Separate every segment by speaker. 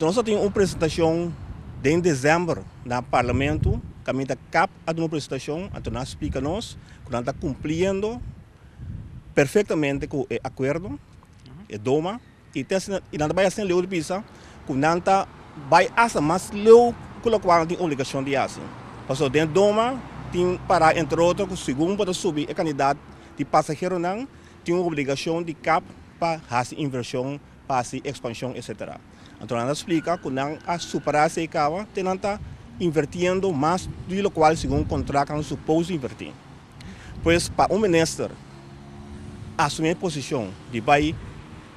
Speaker 1: Nos ta tin un presentacion den december na parlamento, caminda cap a duna presentacion, anto nan a splica nos cu nan ta cumpliendo perfectamente cu e acuerdo, e doma, y ta asina, y nan ta bay asina leu ta bisa cu nan ta bay hasta mas leu cu locual nan tin obligacion di haci. Pasobra den doma tin para entre otro cu segun bo ta subi e cantidad di pasaheronan tin un obligacion di cap pa haci inversion. pa hasi ekspanshon etsetera. Anto nan ta splika ku nan a superá esei kaba te nan ta invertiendo mas di lokual segun kontrakt nan supos invertí. Pues pa un minister asumí e posishon di bai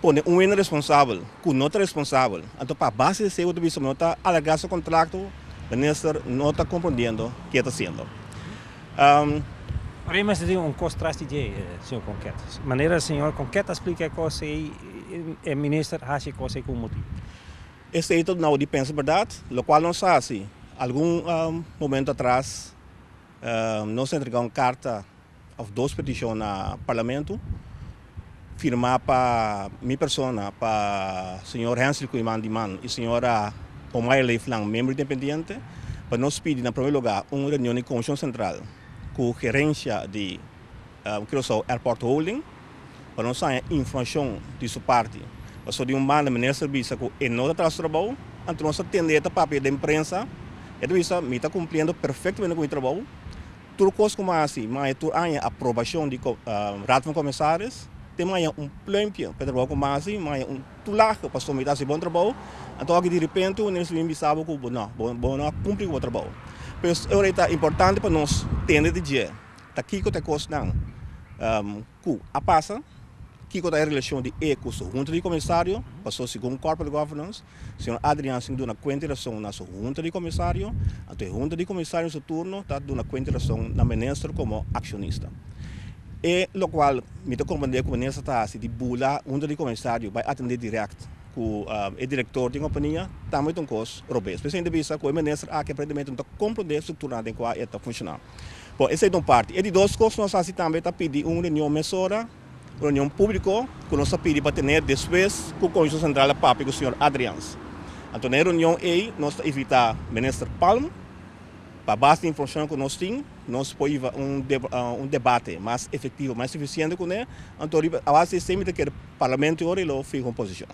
Speaker 1: pone un hende responsabel ku no ta responsabel, anto pa base di esei bo ta bisa ku nan ta alargá su kontrakto, minister no ta komprondiendo ke ta hasiendo. Am.
Speaker 2: Ora e mester tin un kos tras di dje, señor Conquet. Manera señor Conquet a splica e kos ei, e minister haci e kos ei cu un motibu. E statehood
Speaker 1: nou di pensa berdad, locual nos haci. Algun momento atras nos a entrega un carta of dos peticion na Parlamento Firmá pa mi persona, pa señor Hensly Koeiman di man i señora Omaia Leeflang, membro independiente, pa nos pidi na prome lugá un reunion di Komishon Sentral ku gerensha di Curaçao Airport Holding pa nos haña informashon di su parti. Paso di un banda Minister ta bisa ku e no ta traha su trabou, anto nos ta tende e ta papia den prensa, e ta bisa, Mi ta kumpliendo perfektamente ku mi trabou. Tur kos ku Masi maya tur aña aprobashon di Raad van Kommissaris te maya un pluimpje pa e trabou ku Masi maya un tulage pa sometá si bon trabou anto aki direpente wanneer su bin bisa bo ku bo no bo no a kumpli ku bo trabou pues ora i ta importante pa nos tende di dje ta kiko ta e kosnan. Ku a pasa? Kiko ta e relashon di E ku su hunta di komisario? Paso segun Corporate Governance, señor Adrian sin duna kuenta i rason na su hunta di komisario, anto e hunta di komisario su turno ta duna kuenta i rason na minister komo akshonista. E lokual mi ta komprendé ku minister ta hasi di bula hunta di komisario bai atendé dirèkt ku e direktor di kompania tambe ta un kos robes. P'esei mi ta bisa ku e minister aki aparentemente no ta komprendé e struktura den kua e ta funshoná. Bon, esei ta un parti. E di dos kos ku nos a hasi tambe ta pidi un reunion mesora, un reunion públiko ku nos ta pidi pa tene despues ku Kounsel Sentral a papia ku señor Adriaans. Anto na e reunion ei nos ta invitá Minister Palm pa bas di informashon ku nos tin nos por hiba un un debate mas efektivo, mas efisiente kuné. Anto riba a base di esei mi ta kere Parlamento e ora e lo fiha un posishon.